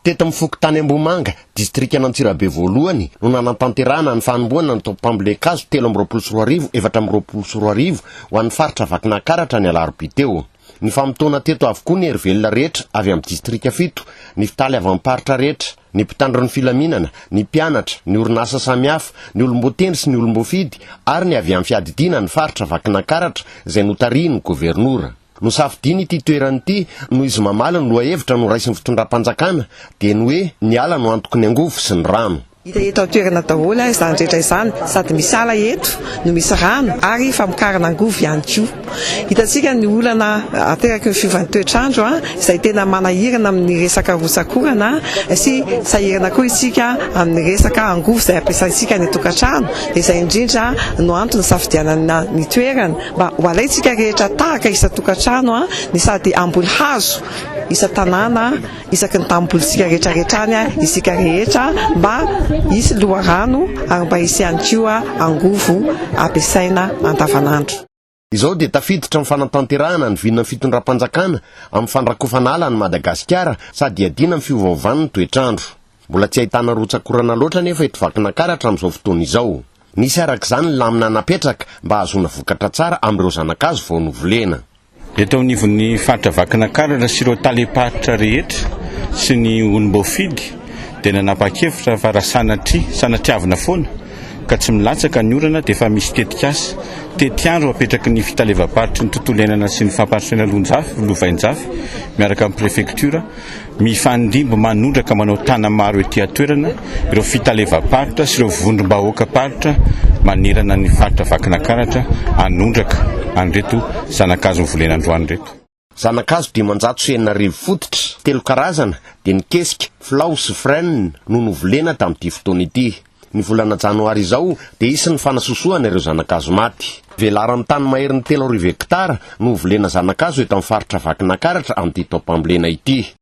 Teto amin'ny fokontany Ambohimanga, distrikan'Antsirabe voalohany, no nanatanterahana ny fanombohana ny tobim-pambolen-kazo telo amby roapolo sy roa arivo efatra amby roapolo sy roa arivo ho an'ny faritra Vakinankaratra ny alarobia teo. Nifamotoana teto avokoa ny hery velona rehetra avy amin'ny distrika fito, ny mpitaly avy amin'ny paritra rehetra, ny mpitandro ny filaminana, ny mpianatra, ny orinasa samihafa, ny olom-boatendry sy ny olom-boafidy ary ny avy amin'ny fiadidiana ny faritra Vakinankaratra izay notarihin'ny governora. Nosafidiany ity toerana ity noho izy mamaly ny lohahevitra noraisin'ny fitondram-panjakana dia ny hoe ny ala no antoky ny angovo sy ny rano. Hita eto an-toerana daholo izany rehetra izany, sady misy ala eto no misy rano ary famokarana angovo ihany koa. Hitantsika ny olana ateraky ny fiovan'ny toetr'andro izay tena manahirana amin'ny resaka rotsak'orana sy sahirana koa isika amin'ny resaka angovo izay ampiasaintsika any an-tokantrano dia izay indrindra no antony isafidianana ny toerana. Mba ho alaintsika rehetra tahaka isan-tokantrano ny sady hamboly hazo isan-tanàna isaky ny tanim-bolintsika rehetrarehetra any isika rehetra mba hisy loharano ary mba hisy ihany koa angovo ampiasaina andavanandro. Izao dia tafiditra amin'ny fanatanterahana ny vinan'ny fitondram-panjakana amin'ny fandrakofana ala an'i Madagasikara sady hiadiana amin'ny fiovaovan'ny toetr'andro. Mbola tsy ahitana rotsak'orana loatra anefa eto Vakinankaratra amin'izao fotoana izao. Nisy araka izany ny lamina napetraka mba hahazoana vokatra tsara amin'ireo zanakazo vao novolena. Eto anivon'ny faritra Vakinakaratra sy ireo talem-paritra rehetra sy ny olom-boafidy dia nanapa-kevitra fa raha sanatria, sanatriavina foana ka tsy milatsaka ny orana dia efa misy tetikasa, tetiandro apetraky ny fitalevam-paritry ny tontolo iainana sy ny fampandrosoana Lonjafy, Lovainjafy miaraka amin'ny prefektiora, Mifandimby manondraka manao tana maro ety an-toerana ireo fitalevam-paritra sy ireo vondrom-bahoakam-paritra manerana ny faritra Vakinakaratra hanondraka an'ireto zana-kazo novolena androany ireto. Zana-kazo dimanjato sy enina arivo fototra, telo karazana, dia ny kesika, filao sy frêne, no novolena tamin'ity fotoana ity. Ny volana janoary izao dia hisy ny fanasosohana ireo zana-kazo maty. Velaran'ny tany maherin'ny telo arivo hektara no hovolena zana-kazo eto amin'ny faritra Vakinakaratra amin'ity taom-pambolena ity.